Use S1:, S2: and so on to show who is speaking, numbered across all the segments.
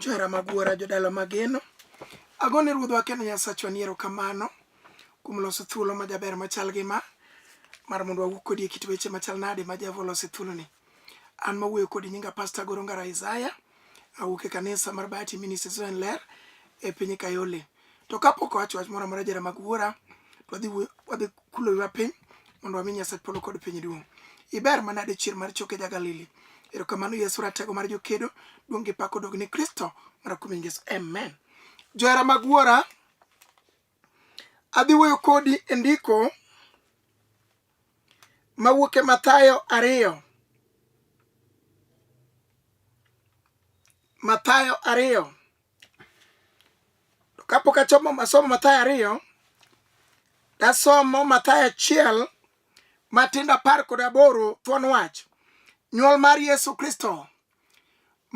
S1: Johera mag wuora jodala mageno, agone ruodhwa kendo Nyasachwa ni erokamano kuom loso thuolo majaber machal gi ma mar mondo wawuo kodi e kit weche machal nade ma Jehova olose thuoloni. An mawuoyo kodi nyinga Pasta Goro Ngara Isaya, awuok e kanisa mar Bahati Ministries Ler e piny Kayole. To kapok owacho wach moro amora jara mag wuora, to wadhi wuo- wadhi kulo wiwa piny mondo wami Nyasach polo kod piny duong'. Iber manade chier mar choke ja Galili. Erokamano Yesu ratego mar jokedo, duong' gi pak odog ni Kristo mar kuom Yesu. Amen. Johera mag wuora, adhi wuoyo kodi e ndiko mawuok e Mathayo ariyo. Mathayo ariyo. To kapok achomo masomo Mathayo ariyo, dasomo Mathayo achiel matindo apar kod aboro thuon wach nyuol mar Yesu Kristo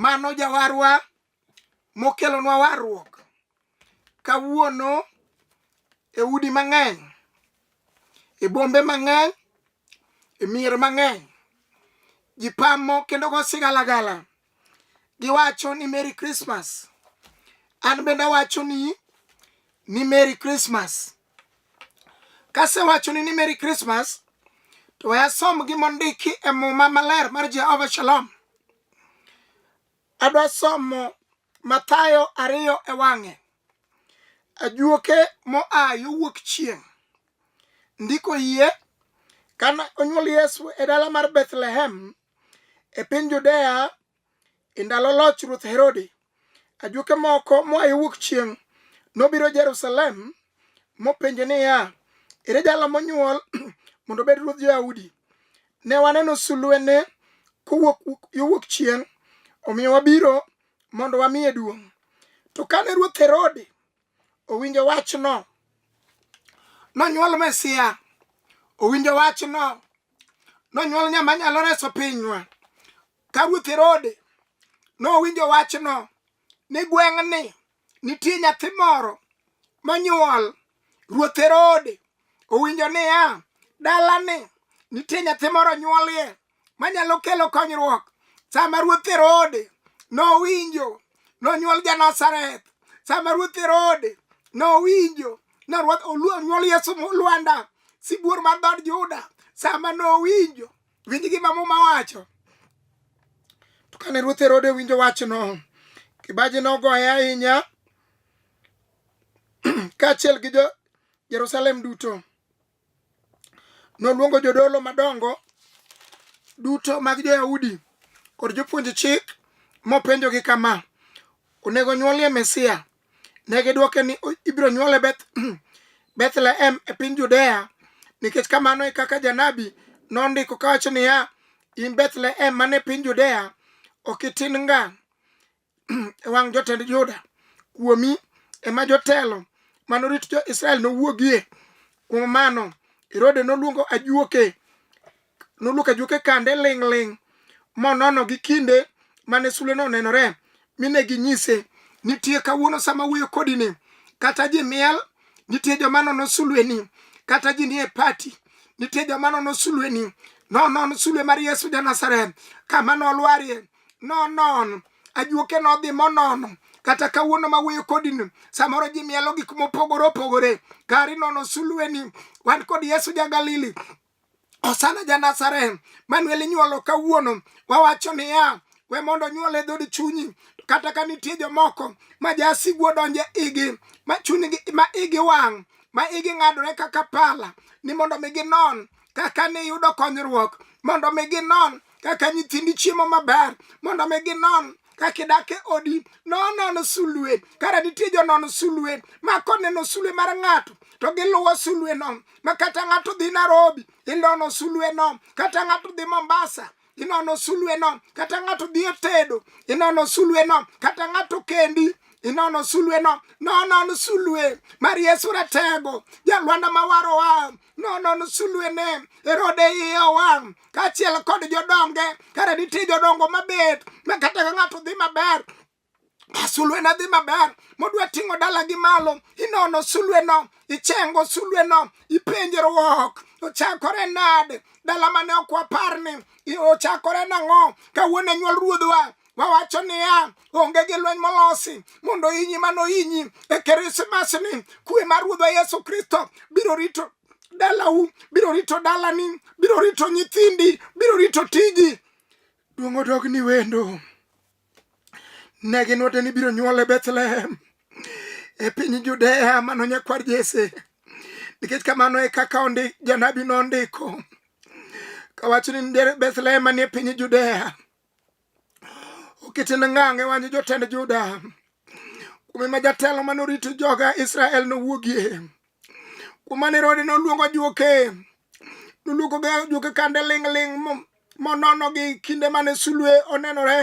S1: mano jawarwa mokelonwa warruok kawuono e udi mang'eny e bombe mang'eny e mier mang'eny ji pamo kendo go sigalagala giwacho ni merry christmas an bende awacho ni ni merry christmas kasewacho ni ni merry christmas to we asom gimondiki e muma maler mar jehova shalom adwa somo mathayo ariyo e wang'e ajuoke moa yo wuok chieng' ndiko yie kane onyuol yesu e dala mar bethlehem E piny Judea, e ndalo loch Ruoth Herode, ajuoke moko moa yo wuok chieng' nobiro Jerusalem mopenjo niya, Ere jalo monyuol mondo obed ruodh Jo-Yahudi? Ne waneno sulwene kowuok yo wuok chieng', omiyo wabiro mondo wamiye duong'. To kane Ruoth Herode owinjo wachno nonyuol mesia owinjo wachno nonyuol nyama nyalo reso pinywa ka ruoth herode nowinjo wachno ni gweng'ni nitie nyathi moro monyuol ruoth herode owinjo niya dalani nitie nyathi moro nyuolie manyalo kelo konyruok sama ruoth herode nowinjo nonyuol janazareth sama ruoth herode nowinjo nonyuol yesu lwanda sibuor mar dhod juda sama nowinjo winj gima muma wacho to kane ruoth herode winjo wachno kibaji nogoye ahinya kaachiel gi jo jerusalem duto Noluongo jodolo madongo duto mag jo-Yahudi kod jopuonj chik mopenjogi kama, Onego nyuolie Mesia? Ne gidwoke ni ibiro nyuole Beth, Bethlehem e piny Judea, nikech kamano e kaka janabi nondiko kawacho niya, In Bethlehem man e piny Judea, ok itin nga e wang' jotend Juda, kuomi ema jotelo manorit jo-Israel nowuogie. Kuom mano, Herode noluongo ajuoke, noluoko ajuoke kande ling'ling' monono gi kinde mane suleno onenore, mine ginyise, nitie kawuono sama wuoyo kodi ni, kata ji miel, nitie joma nono sulweni, kata ji nie pati, nitie joma nono sulweni, nonon sulwe mar Yesu ja Nazareth, kama nolwarie nonon ajuoke nodhi monono kata kawuono ma wuoyo kodini samoro ji mielo gik mopogore opogore gari nono sulweni wan kod yesu ja galili osana ja nazareth manuel inyuolo kawuono wawacho niya we mondo onyuol e dhod chunyi kata ka nitie jomoko ma jasigu odonje igi ma chunygi ma igi wang' ma igi ng'adore kaka pala ni mondo mi ginon kaka niyudo konyruok mondo mi ginon kaka nyithindi chiemo maber mondo mi ginon kaka idak e odi nonon sulwe kara nitie jonon sulwe ma koneno sulwe mar ng'ato to giluwo sulweno ma kata ng'ato dhi Nairobi ilono sulweno kata ng'ato dhi Mombasa inono sulweno kata ng'ato dhi e tedo inono sulweno kata ng'ato kendi inono sulweno nonon sulwe mar yesu ratego jalwanda mawarowa nonon sulwene erode iye owang kaachiel kod jodonge kare nitie jodongo mabet ma kata ka ng'ato dhi maber sulweno dhi maber modwa ting'o dalagi malo inono sulweno ichengo sulweno ipenjero ok ochakore nade dala mane ok wapar ni ochakore nang'o kawuono e nyuol ruodhwa wawacho niya onge gi lweny molosi mondo inyi mano inyi e krismas ni kwe mar ruodhwa yesu kristo biro rito dalau biro rito dalani biro rito nyithindi biro rito tiji duong' odogni wendo ne ginwate ni biro nyuol e Bethlehem e piny Judea mano nyakwar Jesse nikech kamano e kaka ondik janabi nondiko kawacho ni nitiere Bethlehem manie piny Judea okitin ngang' e wany jotend Juda kuome ma jatelo mane orito joga Israel nowuogie no kuom mane rode noluongo juoke noluongo juoke kande ling'ling' mononogi kinde mane sulwe onenore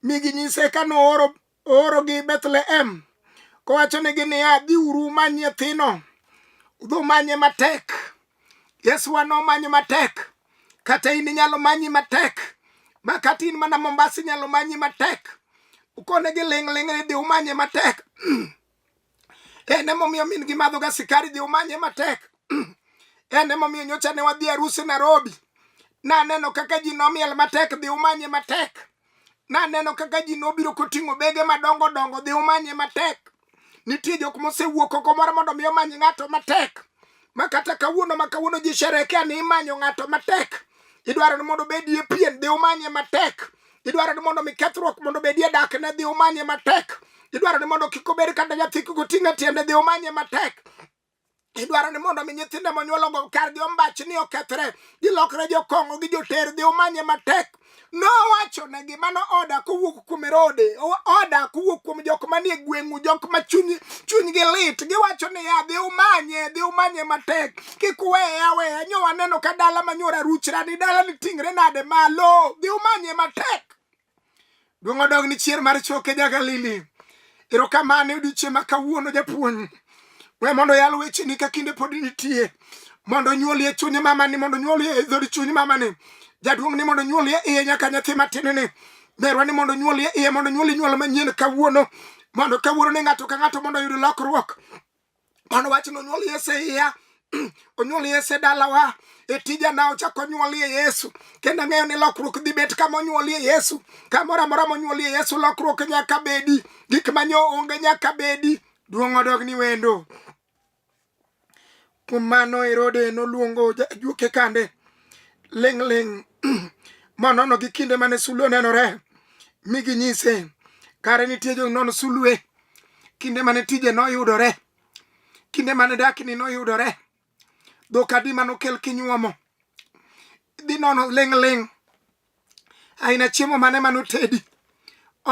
S1: mi ginyise ka nooro oorogi Bethlehem kowachonegi niya dhiuru many nyathino udhi umanye matek yesu wa nomanyo matek kata in inyalo manyi matek ma kata in mana mombasa inyalo manyi matek ukonegi ling'ling' ni dhi umanye matek en emomiyo min gi madhoga sikari dhi umanye matek en emomiyo nyocha ne wadhi arusi Nairobi naneno kaka ji nomiel matek dhi umanye matek naneno kaka ji nobiro koting'o bege madongo dongo dhi umanye matek nitie jok mosewuok oko moro mondo mi omany ng'ato matek ma kata kawuono ma kawuono ji sherekea ni imanyo ng'ato matek idwaro ni mondo obedie pien dhi umanye matek idwaro ni mondo mi kethruok mondo obedie dak ne dhi umanye matek idwaro ni mondo kik obed kata nyathi kik oting' e tiende dhi umanye matek idwaro ni mondo mi nyithindo monyuologo kargi ombach ni okethre gilokre jokong'o gi joter dhi umanye matek nowacho ne gi mano oda kowuok kuom erode oda kowuok kuom jok manie gweng'u jok ma chuny chunygi lit giwacho ni ya dhi umanye dhi umanye matek kik weye aweya nyo waneno ka dala manyuora ruchra ni dala ni tingre nade malo dhi umanye matek duong' odog ni chier mar choke ja galili erokamano odiochieng' ma kawuono japuonj we mondo yal wecheni ka kinde pod nitie mondo onyuoli e chuny mamani mondo onyuoli e dhod chuny mamani jaduong' ni mondo onyuoli e iye nyaka nyathi matinini merwa ni mondo onyuoli e iye mondo onyuoli nyuol manyien kawuono mondo kawuono ni ng'ato ka ng'ato mondo oyud lokruok mano wach nonyuol yesu e iya onyuol yesu e dalawa e tija na ochako onyuolie yesu kendo ang'eyo ni lokruok dhi bet kama onyuolie yesu kamoro amora monyuolie yesu lokruok nyaka bedi gik manyo onge nyaka bedi duong' odog ni wendo kuom mano herode noluongo juoke kande ling' ling' monono gi kinde mane sulwe onenore mi ginyise kare nitie jonon sulwe kinde mane tije noyudore kinde mane dakni noyudore dhok adi manokel kinyuomo dhi nono ling' ling' aina chiemo mane manotedi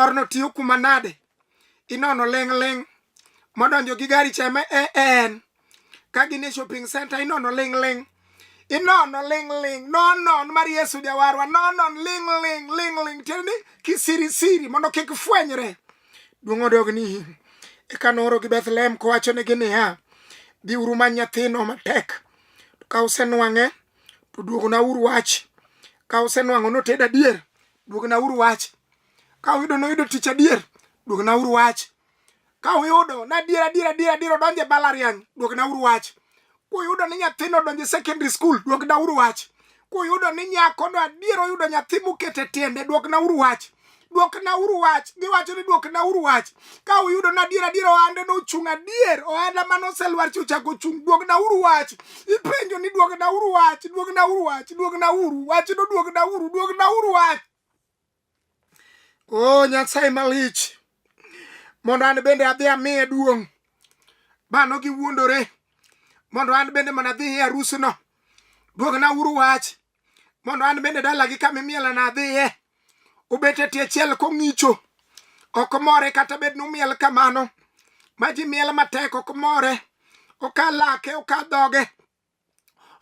S1: orno tiyo kuma nade inono ling' ling' modonjo gi gari chama e, e, en ka gin e shopping center inono ling ling inono ling ling nonon mar yesu jawarwa nonon ling ling ling ling tiende ni kisirisiri mondo kik fwenyre duong' odog ni in eka noorogi bethlehem kowachonegi niya dhiuru ma nyathino matek to ka usenwang'e to duognauru wach ka usenwang'o noted adier duognauru wach ka uyudo noyudo tich adier duognauru wach Ka uyudo na adier adier adier adier odonjo e mbalariany, duokna uru wach. Kuyudo ni nyathino odonjo e secondary school, duokna uru wach. Kuyudo ni nyakono adier oyudo nyathi moket e tiende, duokna uru wach. Duokna uru wach. Giwacho ni duokna uru wach. Ka uyudo ni adier adier ohande nochung' adier, ohanda mane oselwar cha ochako ochung', duokna uru wach. Ipenjo ni duokna uru wach, duokna uru wach, duokna uru wach, no duokna uru, duokna uru wach. o nyasaye malich mondo an bende adhi amiye duong' bano giwuondore mondo an bende mana adhi e arusno duogna uru wach mondo an bende dalagi kama imielana adhiye obet e tie chiel kong'icho ok more kata bed ni umiel kamano ma ji miel matek ok more oka lake oka dhoge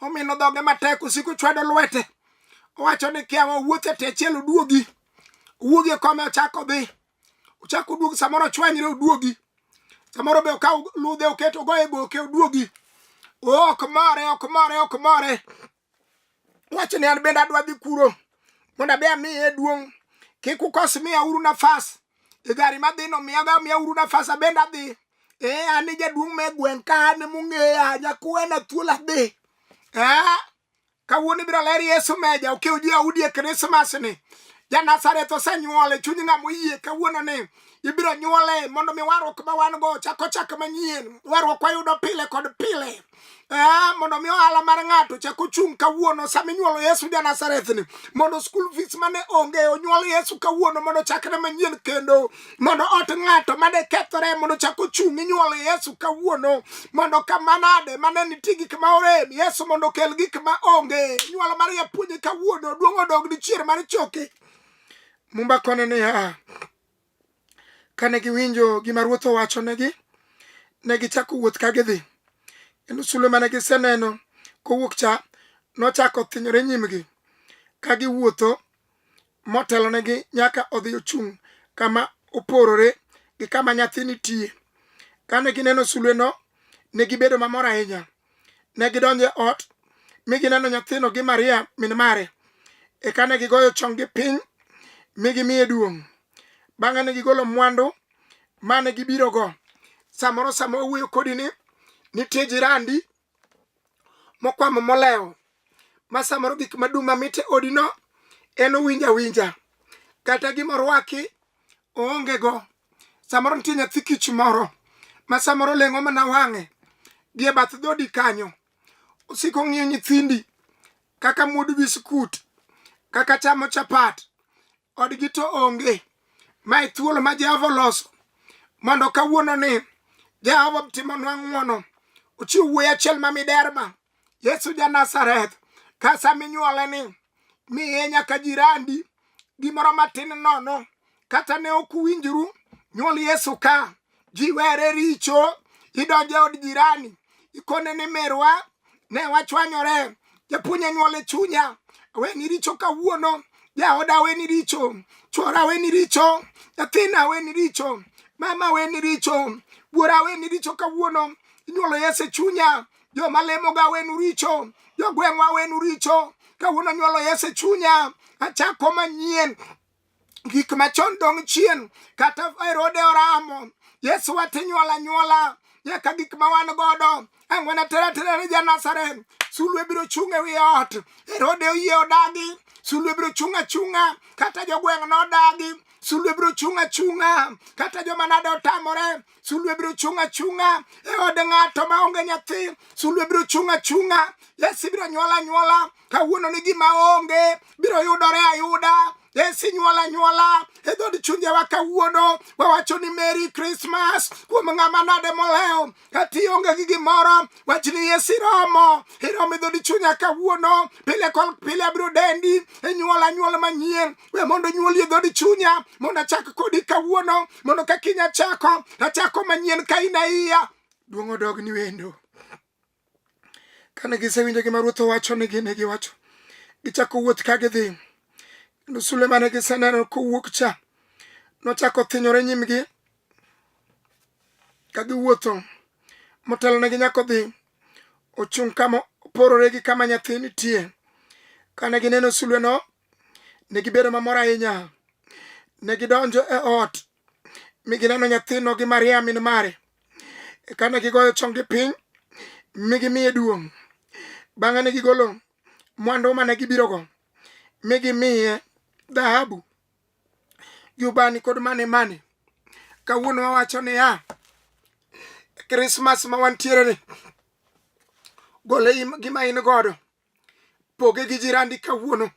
S1: omino dhoge matek osiko chwado lwete owacho ni kiawa wuothe te achiel oduogi wuogi e kome ochako dhi ochako oduogi samoro ochwanyre oduogi samoro be okaw ludhe oketo ogoye goke oduogi ok more ok more ok more wacho ni an bende adwa dhi kuro mondo abe amiye duong' kik ukos miya uru nafas e gari madhino miyaga miya uru nafas abende adhi ee an jaduong' me gweng' ka an mong'eya nyakuwena thuol adhi ee kawuono ibiro ler yesu meja okew ji audi e krismas ni ja nazareth osenyuole chuny ng'a moyie kawuono ni ibiro nyuole mondo mi warruok ma wan go chako chak manyien warruok wayudo pile kod pile Eh, mondo mi ohala mar ng'ato chak ochung' kawuono sama inyuolo Yesu ja Nazareth ni mondo school fees mane onge onyuol Yesu kawuono mondo chakre manyien kendo mondo ot ng'ato mane kethore mondo chak ochung' inyuolo Yesu kawuono mondo kamanade mane nitie gik ma orem Yesu mondo okel gik ma onge nyuolo mar japuonje kawuono duong' odog dichier mar choke mumba kone niya Kane giwinjo gima ruoth owachonegi, ne gichako wuoth ka gidhi. Kendo sulwe mane giseneno kowuok cha nochako thinyore nyimgi ka giwuotho motelonegi nyaka odhi ochung' kama oporore gi kama nyathi nitie. Kane gineno sulweno, ne gibedo mamor ahinya. Ne gidonjo e ot mi gineno nyathino gi Maria min mare. Eka ne gigoyo chonggi piny mi gimiye duong'. Bang'e ne gigolo mwandu ma ne gibirogo. Samoro sama owuoyo kodi ni nitie jirandi mokwamo molewo ma samoro gik madum mamit e odino en owinjo awinja kata gima orwaki oongego samoro nitie nyathi kich moro ma samoro leng'o mana wang'e gi e bath dhodi kanyo osiko ng'iyo nyithindi kaka muod biskut kaka chamo chapat odgi to onge ma e thuolo ma jehova oloso mondo kawuono ni jehova timonwa ng'wono ochiw wuoyi achiel ma miderma Yesu ja Nazareth, ka sama inyuole ni miye nyaka jirandi gimoro matin nono kata ne ok uwinjru nyuol Yesu ka ji were richo idonjo e od jirani ikone ni merwa ne wachwanyore japuonj anyuol e chunya aweni richo kawuono jaoda aweni richo chwora aweni richo nyathina aweni richo mama aweni richo buora aweni richo kawuono inyuolo Yesu e chunya joma lemoga wenu richo jogweng'wa wenu richo kawuono nyuolo yesu e chunya achako manyien gik machon dong chien kata erode oramo yesu watinyuola nyuola nyaka gik ma wan godo ang'wen atera tera ne janasaren sulwe biro chung' e wi ot erode oyie odagi sulwe biro chung' achung'a kata jogweng' nodagi sulwe biro chung' achung'a kata joma nade otamore sulwe biro chung' achung'a e od ng'ato ma onge nyathi sulwe biro chung' achung'a yesi biro nyuola nyuola kawuono ni gima onge biro yudore ayuda yesi nyuola nyuola e dhod chunjewa kawuono wawacho ni meri krismas kuom ng'ama nade molewo kati onge gi gimoro wachni Yesu iromo iromo e dhodi chunya kawuono pile kol pile abiro dendi e nyuol anyuol manyien we mondo nyuoli e dhodi chunya mondo achak kodi kawuono mondo ka kiny achako achako manyien ka in aiya duong' odog ni wendo kane gisewinjo gima ruoth owacho nigi ne giwacho gichako wuoth ka gidhi kendo sulema ne giseneno kowuok cha nochako thinyore nyimgi ka giwuotho motelonegi nyaka odhi ochung' kama oporore gi kama nyathi nitie kane gineno sulweno ne gibedo mamor ahinya ne gidonjo e ot mi gineno nyathino gi maria min mare e kane gigoyo chonggi piny mi gimiye duong' bang'e ne gigolo mwandu mane gibirogo mi gimiye dhahabu jubani kod mane mane kawuono wawacho niya krismas ma wantiere ni gole gima in godo poge gi jirandi kawuono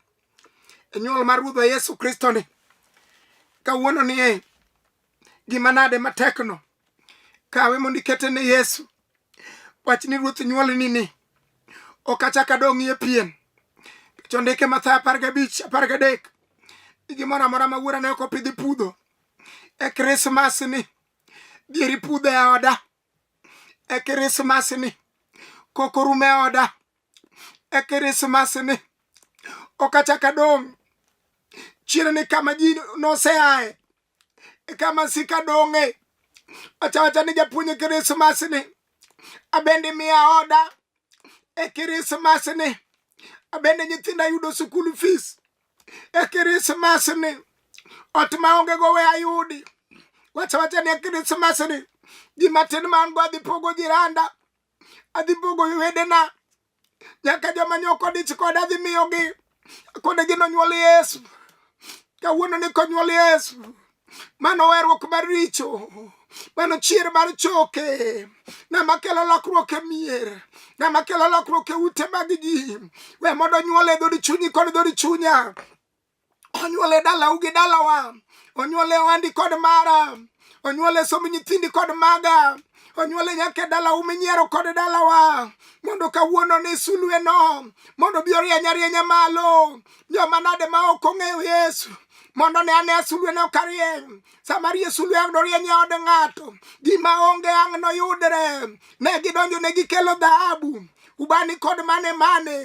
S1: e nyuol mar ruodhwa yesu kristo ni kawuono ni e gima nade matekno kawe mondo ikete ne yesu wach ni ruoth nyuol nini ok achak adong'ie pien kech ondike matha apar gabich apar gadek ni gimoro amora ma wuora ne ok opidhi pudho e krismas ni dhieri pudho e oda e krismas ni koko rum e oda e krismas ni ok achak adong' chiere ni kama ji noseaye eka masika dong'e ochawacha ni japuonj krismas ni abende miya oda e krismas ni abende nyithinda yudo sukul fees e krismas ni ot maonge go we ayudi wachawacha ni e krismas ni ji matin ma an go adhi pogo jiranda adhi pogo wedena nyaka joma ne ok odich koda dhi miyogi kod gi nonyuol yesu kawuono ni konyuol yesu mano werruok mar richo mano chier mar choke ng'ama kelo lokruok e mier ng'ama kelo lokruok e ute mag ji we mondo nyuol e dhod chunyi kod dhod chunya onyuole dalau gi dalawa onyuole ohandi kod mara onyuole somb nyithindi kod maga onyuole nyaka e dalau minyiero kod dalawa mondo kawuono ni sulweno mondo bi orieny arienya malo joma nade ma ok ong'eyo yesu mondo ne ane sulweno ka rieny sama rie sulwe ang' norieny e od ng'ato gima onge ang' noyudre ne gidonjo ne gikelo dhahabu ubani kod mane mane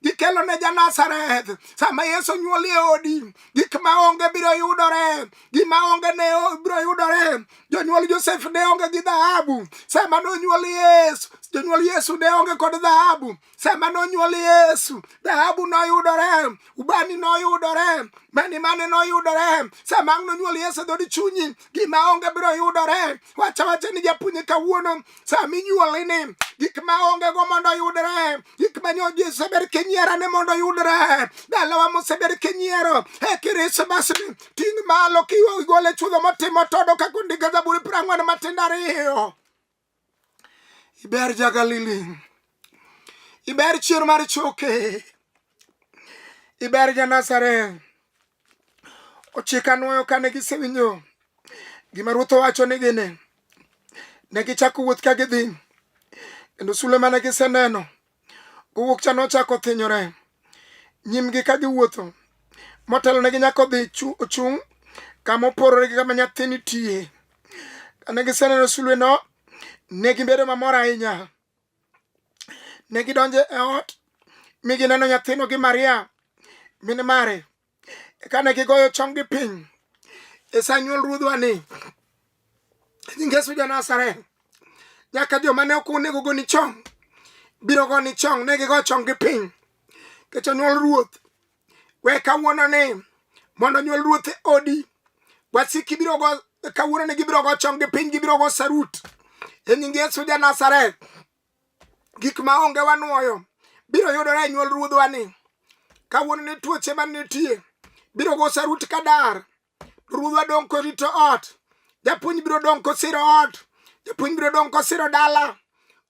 S1: gikelo ne janazareth sama yesu nyuoli e odi gik ma onge biro yudore gima onge ne biro yudore jonyuol josef ne onge gi dhahabu sama nonyuol yesu jonyuol yesu ne onge kod dhahabu sama nonyuol yesu dhahabu noyudore ubani noyudore mani mane noyudore sama nonyuol yesu dhodi chunyi gima onge biro yudore wacha wacha ni japuonye kawuono sama inyuoli ni gik ma onge go mondo yudre gik ma nyoji osebedo kinyiera ni mondo yudre dalawa mosebedo kinyiero e kirismas ni ting' malo kiigole chudho motimo todo kaka ondika zaburi piero ang'wen matindo ariyo iber jagalili iber chier mar choke iber ja nazareth ochika nwoyo kane gisewinjo gima ruoth owacho ni gini ne gichako wuoth ka gidhi kendo sule mane giseneno gowuok cha nochako thinyore nyimgi ka giwuotho motelo ne ginyako dhi ochung' kama oporore gi kama nyathini tiye kane giseneno sulweno ne gibedo mamor ahinya Ne gidonjo e ot mi gineno nyathino gi Maria min mare. Kane gigoyo chonggi piny e sa nyuol ruodhwa ni nying Yesu ja Nazareth, nyaka joma ne ok onego goni chong biro goni chong ne gigo chonggi piny nikech onyuol ruoth. we kawuono ni mondo nyuol ruoth e odi wasiki biro go kawuono ni gibiro go chong gi piny gibiro go sarut e nying yesu ja nazareth gik ma onge wanwoyo biro yudore e nyuol ruodhwa ni kawuono ni tuoche man nitie biro go sarut kadar ruodhwa dong' korito ot japuonj biro dong' kosiro ot japuonj biro dong' kosiro dala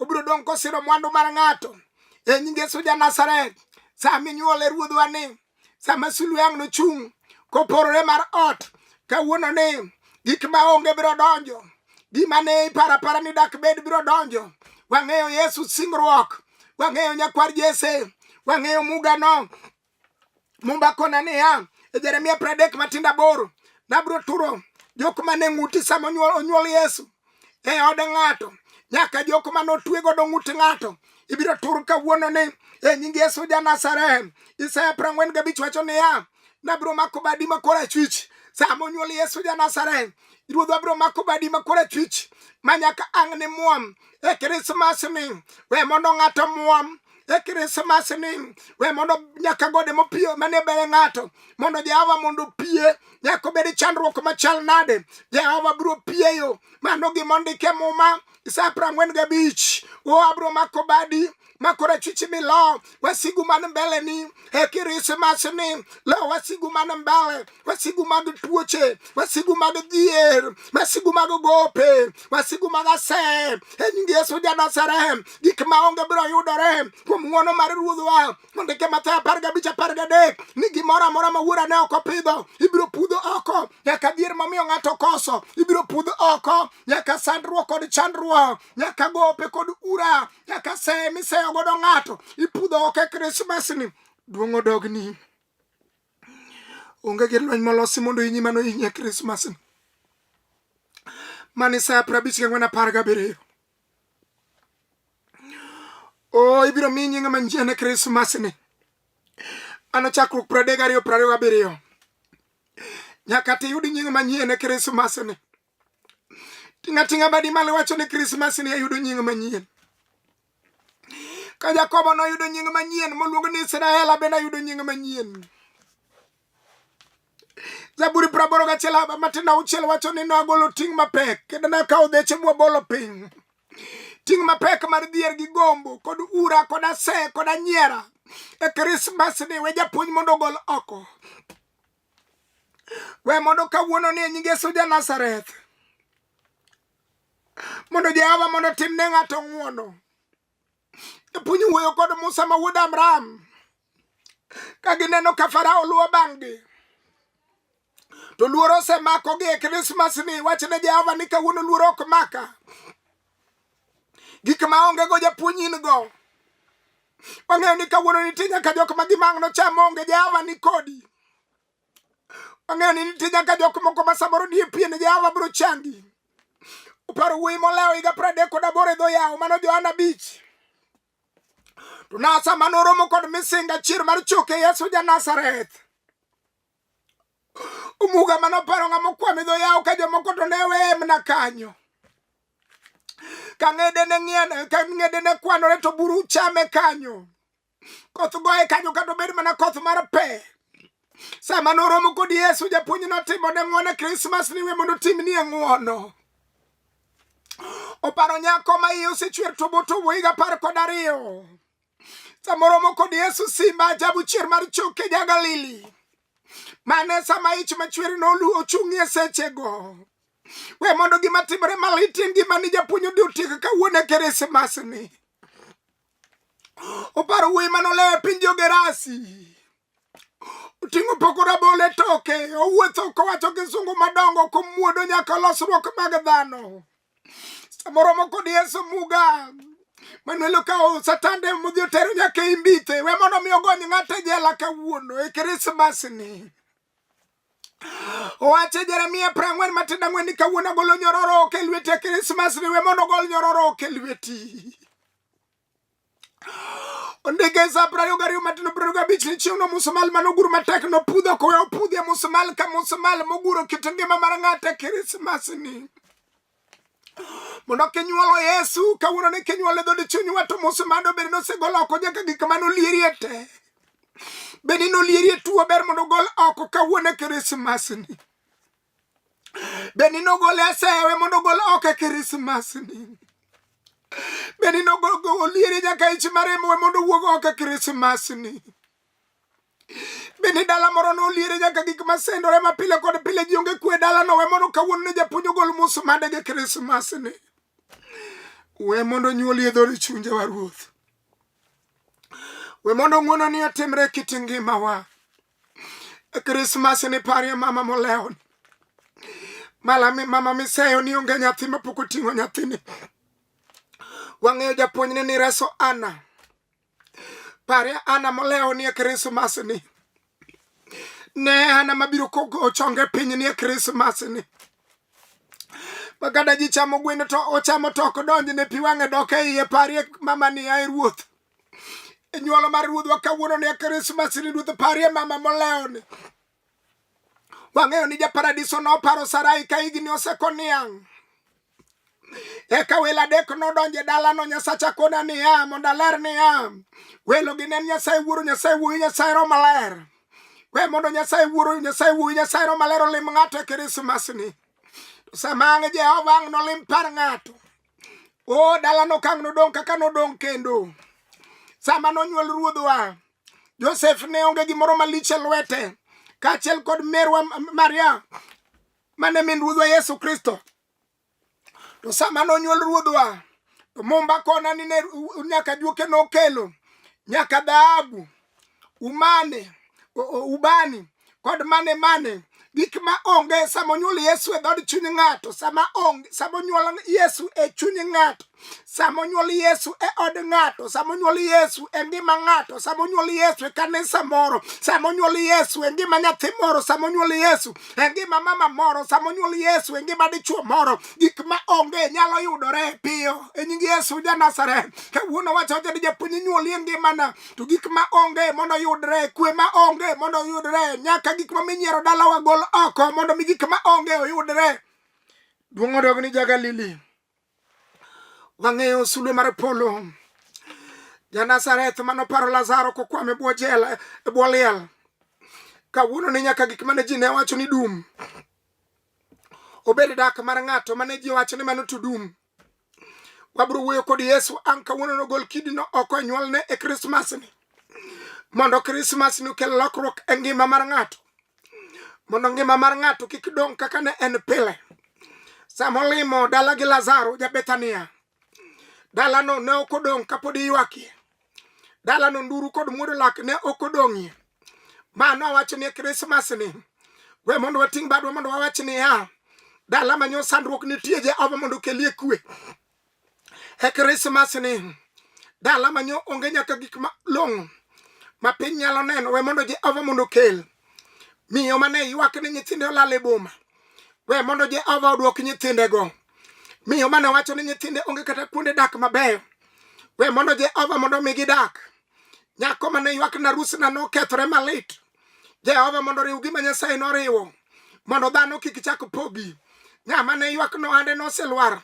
S1: obiro dong' kosiro mwandu mar ng'ato e nying yesu ja nasaret sa minyuole ruodhwa ni sama sulwe ang' nochung' koporore mar ot kawuono ni gik ma onge biro donjo gima ne iparo apara ni dak bed biro donjo wang'eyo yesu singruok wang'eyo nyakwar jese wang'eyo mugano Mumba kona niya e Jeremia pradek matindo aboro nabiro turo jok mane ng'uti sama onyuol onyuol Yesu e od ng'ato nyaka jok mane otwe godo ng'ut ng'ato ibiro tur kawuono ni e nying Yesu ja Nazareth. Isaya prang'wen gabich wacho niya nabiro mako badi ma korachwich sama onyuol Yesu ja Nazareth ruodhwa biro mako badi ma korachwich ma nyaka ang' ni muom e Krismas ni we mondo ng'ato muom e krismas ni we mondo nyaka gode mopiyo mane bere ng'ato mondo jehova mondo opie nyaka obed chandruok machal nade jehova biro pieyo mano gima ondike muma isa prang'wen gabich o abiro mako badi makora chichi mi lo wasigu man mbele ni e krismas ni lo wasigu man mbele masigu mag tuoche masigu mag dhier masigu mag gope masigu mag asem e nying yesu janasarem gik maonge biro yudore kuom ng'wono mar ruodhwa mondike mathayo apar gabich apar gadek ni gimoro amora ma wuora ne ok opidho ibiro pudho oko nyaka dhier mamiyo ng'ato koso ibiro pudh oko nyaka sandruok kod chandruok nyaka gope kod ura nyaka seye miseyo godo ng'ato ipudho oko e krismasni duong' odogni onge gi lweny molosi mondo inyi mano inye krismas ni mani saa prabich gang'wen apar gabiriyo o oh, ibiro mi nyinga manyiene krismas ni ano chakruok pradek ariyo prariyo gabiriyo nyaka tiyud nying manyiene krismas ni Tinga tinga badi malo wacho ni Christmas ni ayudo nying manyien. Ka Jakobo noyudo nying manyien moluongo ni Israel abende ayudo nying manyien. Zaburi praboro gachiel matin auchiel wacho ni nagolo ting' mapek kendo nakawo dheche mwabolo piny. Ting' mapek mar dhier gi gombo kod ura kod ase kod anyiera e Krismas ni we japuonj mondo ogol oko. we mondo kawuono ni e nying yesu ja nazareth mondo jehova mondo tim ne ng'ato ng'uono japuonj wuoyo kod musa ma wuod amram ka gineno ka farao luwo bang'gi to luoro osemakogi e krismas ni wach ne jehova ni kawuono luoro ok maka gik ma onge go japuonj in go Wang'eyo ni kawuono nitie nyaka jok ma gimang' nocham onge Jehova ni kodi. Wang'eyo ni nitie nyaka jok moko ma samoro nie pien Jehova biro changi. Uparo wuoyi molewo higa pradek kod aboro e dho yawo mano Johana Bich. To nasa ma noromo kod misinga chier mar choke Yesu ja Nazareth. Omuga mane oparo ng'ama okwame dho yawo ka jomoko to ne weye mna kanyo ka ng'ede ne ng'ien ka ng'ede ne kwanore to buru chame kanyo koth goye kanyo kata obed mana koth mar pe sama noromo kod yesu japuonj notimo ne ng'wone krismas niwe mondo timnie ng'wono oparo nyako ma iye osechwer to boto wuoyiga apar kod ariyo samoromo kod yesu simba ajabu chier mar choke ja galili mane sama ich machwer noluwo ochung'ie sechego we mondo gima timore maliti ngima ni japuonj odi otiek kawuono e keresmasni oparo wuoyi manolewo e piny jogerasi oting'o poko rabolo e toke owuotho kowacho kisungu madongo komuodo nyaka losruok mag dhano samoro moko dieso muga Manuel okawo satande modhi otero nyaka e imbite we mondo mi ogony ng'ato e jela kawuono e krismas ni owacho jeremia pra ang'wen matindo ang'wen ni kawuono agolo nyororo ok e lweti e krismas ni we mondo ogol nyororo ok e lweti Ondege za prayo gari matino prayo gabich ni chieng' no musumal mano guru matek no pudho kowe opudhie musumal ka musumal moguro kit ngima mar ng'ate Krismas ni mondo kinyuolo Yesu kawuono ni kinyuolo dho dichuny wato musumal dobed nosegolo oko nyaka gik mane olierie te bende nolierie tuo ber mondo ogol oko kawuono Krismas ni bende nogol asewe mondo ogol oko e krismas ni bende nogolieri nyaka ich maremwe mondo owuog oko e krismas ni bende dala moro noliere nyaka gik masendore ma pile kod pile ji onge kwe dala no we mondo kawuono ne japuonj ogol musumade gi krismas ni we mondo nyuol yedhori chunje wa ruoth we mondo ng'wono ni otimre kit ngimawa Krismas ni parie mama molewo ni malami mama miseyo ni onge nyathi mapok oting'o nyathini wang'eyo japuonjne ni reso ana parie ana molewo ni e krismas ni ne ana mabiro kogo chonge piny ni e krismas ni makata ji chamo gweno to ochamo toko donjne pi wang'e dok e iye parie mama ni ae ruoth inyuolo mar ruodhwa kawuono ne krismas ni ruoth parie mama molewni wang'eyo ni japaradiso noparo sarai ka higni oseko niang' eka welo adek nodonjo e dalano nyasacha kona niya mondo aler niya welo gi ne en nyasaye wuoro nyasaye wuoyi nyasaye ro maler we mondo nyasaye wuoro nyasaye wuoyi nyasaye ro maler olim ng'ato e krismasni sama ang' jehova ang' nolim par ng'ato o dala nokang' nodong' kaka nodong' kendo sama nonyuol ruodhwa josef ne onge gimoro malich e lwete kaachiel kod merwa maria mane min ruodhwa yesu kristo to sama nonyuol ruodhwa to mumba kona ni ne nyaka juoke nokelo nyaka dhahabu umane ubani kod mane mane gik ma onge sama onyuol yesu e dhod chuny ng'ato sama onge sama onyuol yesu e chuny ng'ato sama onyuol yesu e od ng'ato sama onyuol yesu e ngima ng'ato sama onyuol yesu e kanisa moro sama onyuol yesu e ngima nyathi moro sama onyuol yesu e ngima mama moro sama onyuol yesu e ngima dichuo moro gik ma onge nyalo yudore piyo e nying yesu ja nazareth kawuono wacho ni japuonj nyuoli e ngimana to gik ma onge mondo yudre kwe ma onge mondo yudre nyaka gik ma minyiero dalawa gol oko mondo mi gik ma onge oyudre duong' odog ni jagalili wang'eyo sulwe mar polo janazareth mano paro lazaro kokwame bwo jela e bwo liel kawuono ni nyaka gik mane ji ne wacho ni dum obed dak mar ng'ato mane ji wacho ni mano to dum wabiro wuoyo kod yesu an kawuono nogol kidino oko e nyuolne e krismasni mondo krismasni okel lokruok e ngima mar ng'ato mondo ngima mar ng'ato kik dong' kaka ne en pile sama olimo dala gi lazaro jabethania dalano ne ok odong' kapod iywakie dalano nduru kod muodo lak ne ok odong'ie ma nowacho ni krismas ni we mondo wating' badwa mondo wawach niya dala manyo sandruok nitie jehova mondo okelie kwe e krismas ni dala manyo onge nyaka gik malong'o ma piny nyalo neno we mondo jehova mondo okel miyo mane ywak ni nyithinde olal e boma we mondo jehova odwok nyithindego Miyo mane wacho ni nyithinde onge kata kuonde dak mabeyo. We mondo Jehova mondo mi gidak. Nyako mane ywak na rusna nokethore malit. Jehova mondo riw gima Nyasaye noriwo mondo dhano kik chak pogi. Ng'ama ne ywak no ande noselwar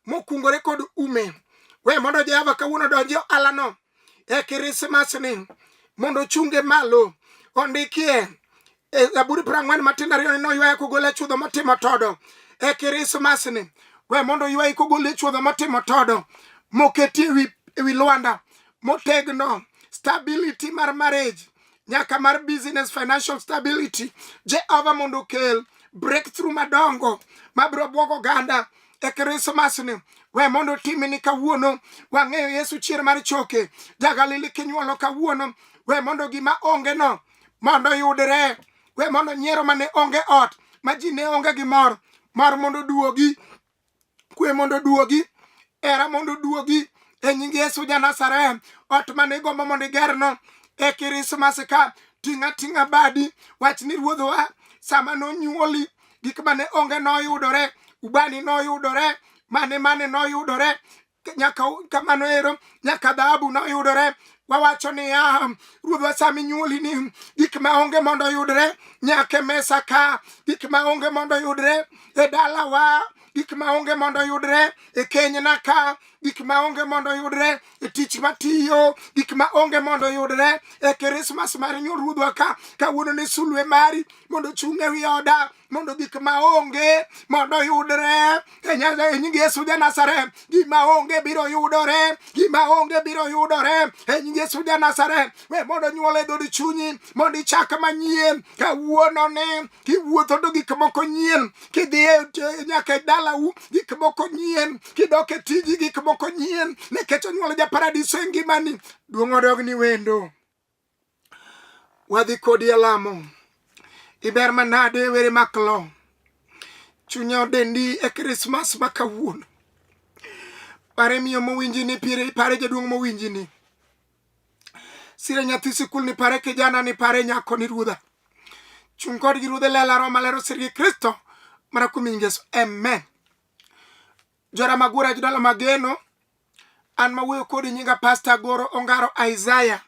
S1: mokungore kod ume. We mondo Jehova kawuono donji ohalano. e kirismasni mondo ochunge malo ondikie e zaburi piero ang'wen matindo ariyo ni noywaya kogol e chudho motimo todo e kirismasni we mondo oywayi kogol e chudho motimo todo moketi ewi lwanda motegno stability mar marriage nyaka mar business financial stability jehova mondo okel breakthrough madongo mabiro bwogo oganda e krismas ni we mondo timini kawuono wang'eyo yesu chier mar choke jagalili kinyuolo kawuono we mondo gima onge no mondo yudre we mondo nyiero mane onge ot ma ji ne onge gi mor mor mondo duogi kwe mondo oduogi era mondo oduogi e nying yesu ja nazareth ot mane igombo mondo igerno e kirismas ka ting' ating'a badi wach ni ruodhwa sama nonyuoli gik mane onge noyudore ubani noyudore mane mane noyudore nyaka kamano ero nyaka dhahabu noyudore wawacho niya ruodhwa sama inyuoli ni gik ma onge mondo yudre nyaka e mesa ka gik ma onge mondo yudre e dalawa gik ma onge mondo yudre e kenyna ka gik ma onge mondo yudre e tich matiyo gik ma onge mondo yudre e krismas mar nyuol ruodhwa ka kawuono ne sulwe mari mondo ochung' e wi oda mondo gik ma onge mondo yudre e Nyasaye nying Yesu ja Nazareth gima onge biro yudore gima onge biro yudore e nying Yesu ja Nazareth we mondo nyuol e dhood chunyi mondo ichak manyien kawuono ni kiwuotho to gik moko nyien kidhi e nyaka e dalau gik moko nyien kidok e tiji gik moko nyien nikech onyuol ja paradiso e ngimani duong' odog ni wendo wadhi kodi e lamo iber manade were maklo chunya odendi e krismas ma kawuono pare miyo mowinji ni pire pare jaduong' mowinji ni sire nyathi sikul ni pare kijana ni pare nyako ni ruodha chung' kodgi ruodhe lela roma lero sirgi kristo mana kuom nying yesu amen Jora Magura e jodala mageno. An mawuoyo kodi nyinga Pasta Goro Ongaro Isaiah.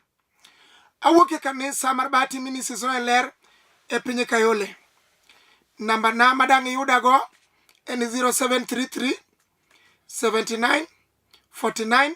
S1: Awuok e kanisa mar Bahati Ministries no e ler e piny Kayole. Namba na madang' iyudago en 0733 79 49